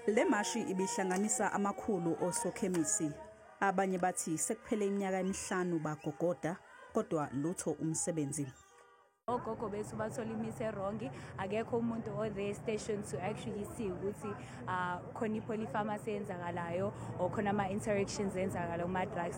Le mashi ibihlanganisa amakhulu osokhemisi. Abanye bathi sekuphele iminyaka emihlanu bagogoda kodwa lutho umsebenzi. ogogo bethu bathola imithi erongi akekho umuntu o-the station to actually see ukuthi um khona ipholifamasi eyenzakalayo or khona ama-interactions enzakalayo kuma-drugs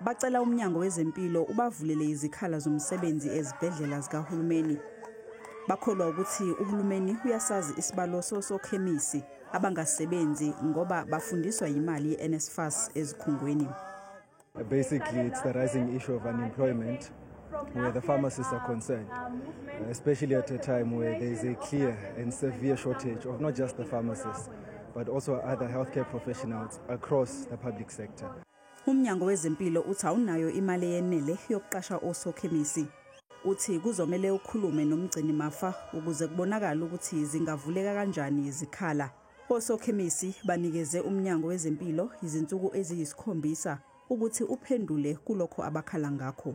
Bacela umnyango wezempilo ubavulele izikhala zomsebenzi ezibhedlela zikahulumeni. Bakholwa ukuthi uhulumeni uyasazi isibalo sosokhemisi abangasebenzi ngoba bafundiswa yimali ye-NSFAS ezikhungweni. Basically, it's the rising issue of unemployment where the pharmacists are concerned, especially at a time where there is a clear and severe shortage of not just the pharmacists, but also other healthcare professionals across the public sector. Umnyango wezempilo uthi awunayo imali eyenele yokuqasha osokhemisi. Uthi kuzomele ukhulume nomgcini mafa ukuze kubonakale ukuthi zingavuleka kanjani izikhala. Osokhemisi banikeze umnyango wezempilo izinsuku eziyisikhombisa ukuthi uphendule kulokho abakhala ngakho.